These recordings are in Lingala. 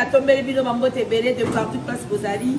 natombeli bino bambote ebele de partout place bozali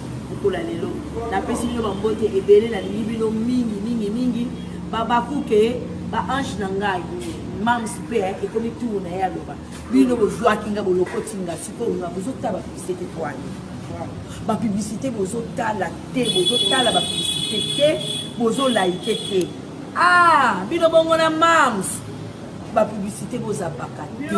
Bokola lelo. Napesi bino ba mbote ebele na lingi bino mingi mingi mingi. Babakuke ba ange na ngai mams mpe eh, ekomi turu na ye aloba bino bozwaki nga bolokoti nga sikoyo nga bozotala bapiblisite twani bapiblisite bozotala te bozotala bapiblisite te bozolaike te ah bino bongo na mams ba publicité bozapaka te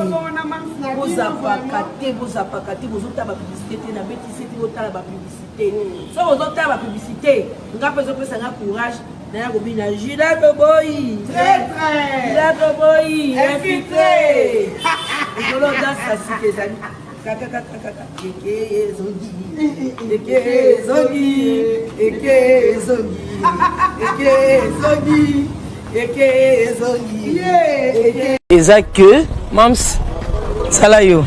bozapaka te bozapaka te bozotala ba publicité te na betise te botala ba publicité mm. soki ozotala ba publicité nga mpe ezopesa nga courage naya kobina juda toboyi juda toboyi infiltre ekolo danse ya sika ezali eza que mams sala yo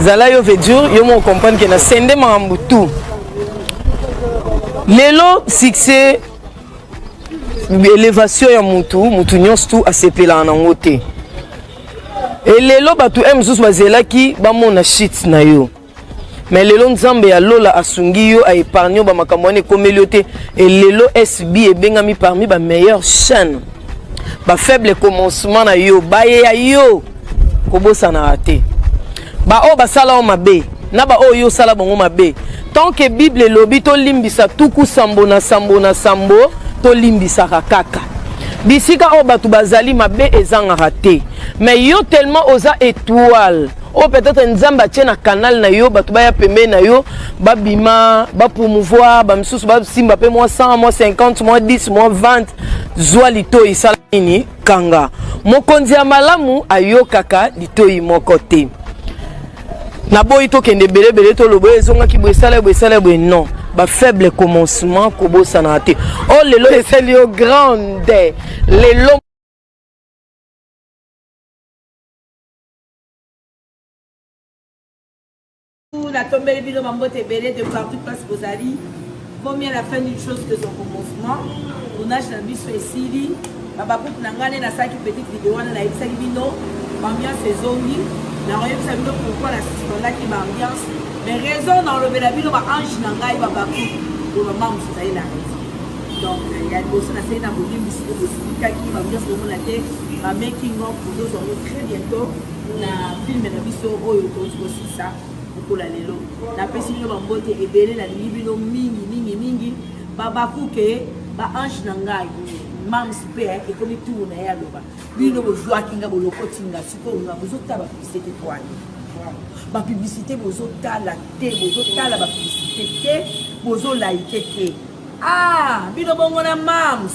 zala yo vedur yo moko comprendre ke na sende makambo tout lelo succès élévation ya motu motu nyonso tu asepelaka nango te e lelo bato e mosusu bazelaki bamona shit na yo me lelo nzambe ya lola asungi yo aepargne yo bamakambo wana ekomeli yo te e lelo sb ebengami parmi bameilleure chaîne bafaible commencement na yo bayeya yo kobosanaka te Ba oyo basala yo mabe na ba oyo yo sala bango mabe. Tant que Bible elobi to limbisa tuku sambo na sambo na sambo to limbisaka kaka. Bisika oyo bato bazali mabe ezangaka te. Mais yo tellement oza étoile oyo oh, peut-être nzambe atie na canal na yo bato baya pembeni na yo babima bapromouvoir bamisusu basimba mpe mwa 100 mwa 50 mwa 10 mwa 20 zwa litoi sala nini kanga. Mokonzi ya malamu ayokaka litoyi moko te. Naboyi tokende belebele toloba oyo ezongaki boye esala boye esala boye non ba faible commencement kobosana te o oh, lelo esali yo grande lelo natombeli bino bambote ebele de partout place bozali komi à la fin d'une chose que son commencement tournage na biso esili babakuku na ngai nde nasalaki petite video wana nayebisaki bino bambiance ezongi nakoyebisa bino pourkoi na suspendaki baambiance mais raison naolobela bino baange na ngai babakuku loba mama mosusu ezali na raison donc ya liboso nasali na bolimbisi mpe bosilikaki bambiance komona te bamaking of ozozo yango très bientôt na filme na biso oyo tozi sa okola lelo napesi bino bambote ebele nalingi bino mingi mingi mingi babakuke baange na ngai mams mpe ekomi turu na ye aloba bino bozwaki nga bolokoti nga sikoyo nga bozotala bapiblisite twani bapiblisite bozotala te bozotala bapiblisite te bozolaike te ah bino bongo na mams